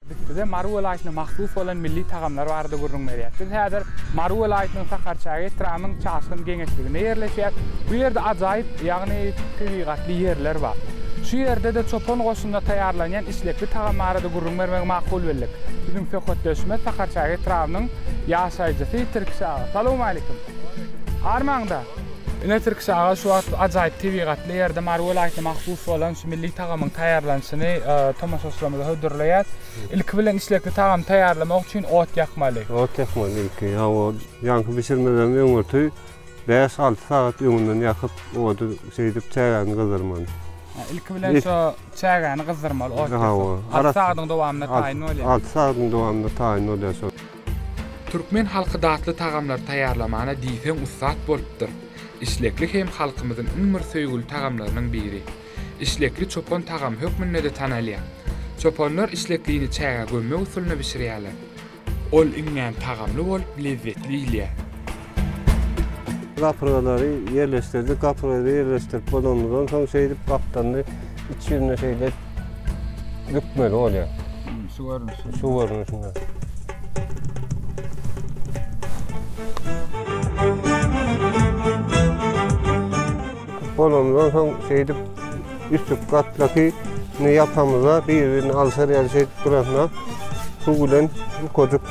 Biz size Mary welaýatyna mahsus bolan milli tagamlar barada gürrüň berýäs. Biz häzir Mary welaýatynyň Sakarçäge etrabynyň Çaşgyn geňeşliginde ýerleşýäs. Bu ýerde ajaýyp, ýagny tebigatly ýerler bar. Şu ýerde-de çopan goşunda taýýarlanýan işlekli tagam barada gürrüň bermegi makul bildik. Biziň söhbetdeşimiz Sakarçäge etrabynyň ýaşaýjysy Tirkiş aga. Salowmaleýkim. Armaň-da? Ine Tirkiş aga şu wagt ajaýyp tebigatly ýerde Mary welaýatyna mahsus bolan şu milli tagamyň taýýarlanyşyny tomaşaçylarymyza hödürleýäs. Ilki bilen içlekli tagamy taýýarlamak üçin ot ýakmaly. Ot ýakmaly ilki. Hawa, ýaňky bişirmeden öňürti bäş-alty sagat öňünden ýakyp ody şeýdip çägäni gyzdyrmaly. Ilki bilen şu çägäni gyzdyrmaly ot ýakyp. Hawa. Alty sagadyň dowamynda taýyn bolýar. Alty sagadyň dowamynda taýyn bolýar şol. Türkmen halky datly tagamlar taýýarlamana diýseň ussat bolupdyr. Işlekli hem halkymyzyň iň bir söýgüli tagamlarynyň biri. Işlekli çopan tagamy hökmünde-de tanalýar. Çopanlar işleklini çägä gömmek usulyna bişirýärler. Ol iňňän tagamly bolup, lezzetli iýilýär. Gapyrgalary ýerleşdirdik. Gapyrgalary ýerleşdirip bolanymyzdan soň şeýdip gapdalynda iç ýüzüne şeýle bükmeli bolýar. Şu görnüşde. Şu görnüşde. Bolanymyzdan soň şeýdip üstki gatlaky ýapamyza bir-birini alşar ýaly şeýdip duranyna suw bilen ýukadyk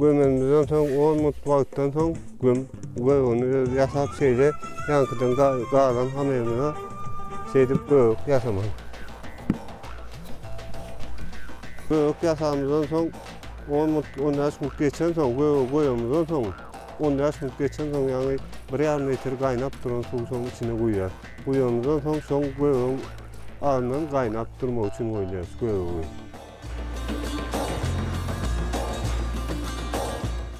Gömümizden soň 10 minut wagtdan soň göm gögüni öz ýasap şeýle ýaňkydan galan hamyrymyza şeýdip gök ýasamaly. Gök ýasamyzdan soň On minut, on bäş minut geçensoň, göge goýamyzdan soň, on bäş minut geçensoň, ýagny bir ýarym litr gaýnap duran suwy şoň içine guýýas. Guýanymyzdan soň, şoň gögeň agyndan gaýnap durmagy üçin goýýas göge.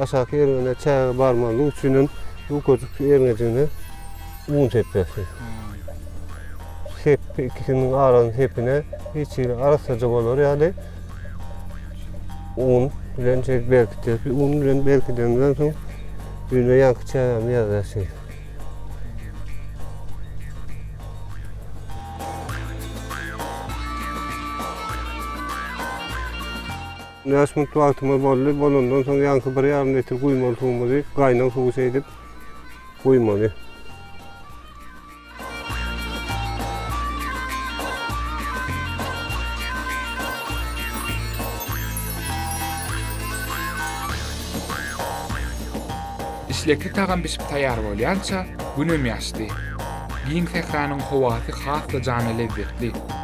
Aşaky erňede çäge barmazlyk üçin hem bu köşk erňejigine un sepmekdir. Sepgi ikisiniň arasyny sepine hiç hili arassaja bolar ýaly un bilen şeýdip berkitýär. Un bilen berkidenden soň düýnüň ýanky çägäni ýazýar şeýdip. Bäş minut wagtymyz boldy. Bolandan soň ýaňky bir ýarym litr guýmaly suwumyzy gaýnag suwy seýdip guýmaly. Işlekli tagam bişip taýýar bolýança, günem ýaşdy. Giň sähranyň howasy has-da jana lezzetli.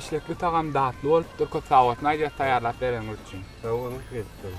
Işlekli tagam datly bolupdyr köp sag bolsun aýdýas taýýarlap bereniňiz üçin. Sag boluň Prezident.